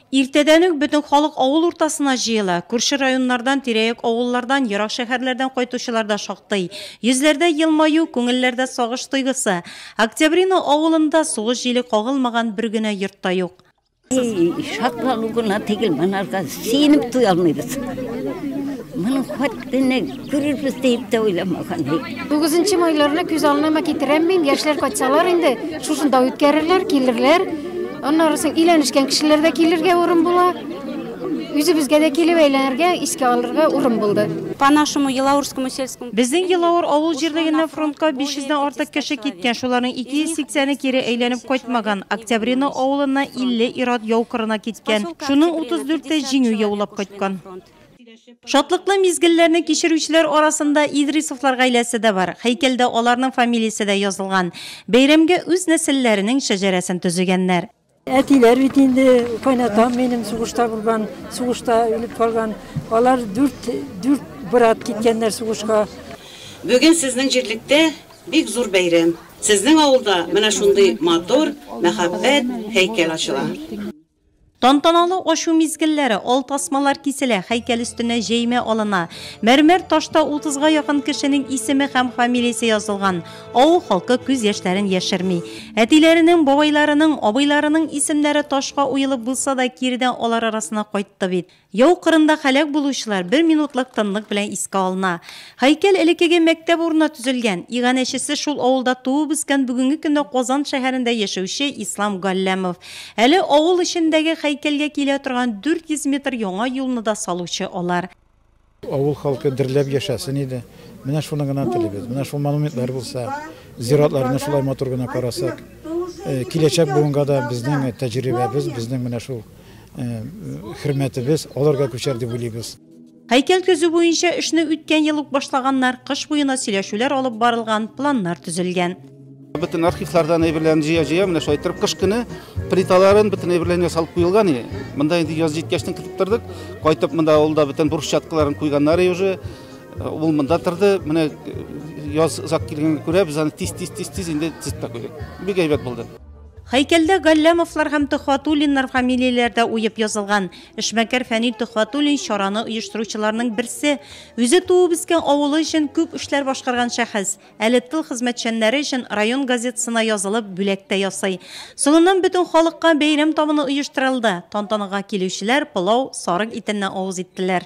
Иртәдән үк бөтен халык авыл уртасына җыела. Күрше районнардан, тирәяк авыллардан, ерак шәһәрләрдән кайтучылар да шактый. Йөзләрдә елмаю, күңелләрдә сагыш тойгысы. Октябрино авылында сугыш җиле кагылмаган бер генә йорт та юк. Шатлану гына түгел, монарга сөенеп туя алмыйбыз. Моның хәтле Күрербез дип тә уйламаган бит. Тугызынчы майларны күз алдына китерәм мин, яшьләр кайтсалар инде, шушында үткәрерләр, килерләр. Аннары соң өйләнешкән кешеләр дә килергә урын була. Үзебезгә дә килеп әйләнергә, искә алырга урын булды. По нашему Елаурскому сельскому Безнең Елаур авыл җирлегеннән фронтка 500 дән артык кеше киткән, шуларның 280-е кире әйләнеп кайтмаган. Октябрино авылыннан 50 ир-ат яу кырына киткән. Шуның 34 е Җиңү яулап кайткан. Шатлыклы мизгелләрне кичерүчеләр арасында Идрисовлар гаиләсе дә бар. Һәйкәлдә аларның фамилиясе дә язылган. Бәйрәмгә үз нәселләренең шәҗәрәсен төзегәннәр. Әтиләр бит инде, кайнатам минем сугышта булган, сугышта үлеп калган. Алар дүрт, дүрт брат киткәннәр сугышка. Бүген сезнең җирлектә бик зур бәйрәм. Сезнең авылда менә шундый матур, мәхәббәт һәйкәл ачыла. Тантаналы ачу мизгелләре ал тасмалар киселә, һәйкәл өстенә җәймә алына. Мәрмәр ташта утызга якын кешенең исеме һәм фамилиясе язылган. Авыл халкы күз яшьләрен яшерми. Әтиләренең, бабайларының, абыйларының исемнәре ташка уелып булса да, киредән алар арасына кайтты бит. Яу кырында һәлак булучылар бер минутлык тынлык белән искә алына. Һәйкәл элеккеге мәктәп урынына төзелгән. Иганәчесе шул авылда туып-үскән бүгенге көндә Казан шәһәрендә яшәүче Ислам Галләмов. Әле авыл эчендәге һәйкәлгә килә торган 400 метр яңа юлны да салучы алар. Авыл халкы дөрләп яшәсен иде. Менә шуны гына телибез. Менә шул монументлар булса, зиратларны шулай матур гына карасак, э, киләчәк буынга да безнең тәҗрибәбез, безнең менә шул э, хөрмәтебез аларга күчәр дип уйлыйбыз. Һәйкәл төзү буенча эшне үткән ел ук башлаганнар, кыш буена сөйләшүләр алып барылган, планнар төзелгән. Бөтен архивлардан әйберләрен җыя-җыя, менә шулай иттереп кыш көне плиталарын бөтен әйберләрен ясалып куелган и. Монда инде яз җиткәчтен китеп тордык. Кайтып монда авылда бөтен бурыч чаткыларын куйганнар и уже. Э, ул монда торды. Менә э, яз озак килгәнгә күрә без аны тиз-тиз-тиз-тиз инде тезеп тә куйдык. Бик әйбәт булды. Хәйкәлдә Галләмовлар һәм Төхватуллиннар фамилияләре дә уеп язылган. Эшмәкәр Фәнил Төхватуллин чараны оештыручыларның берсе. Үзе туып үскән авылы өчен күп эшләр башкарган шәхес. Әле тыл хезмәтчәннәре өчен район газетасына язылып, бүләк тә ясый. Соңыннан бөтен халыкка бәйрәм табыны оештырылды. Тантанага килүчеләр пылау, сарык итеннән авыз иттеләр.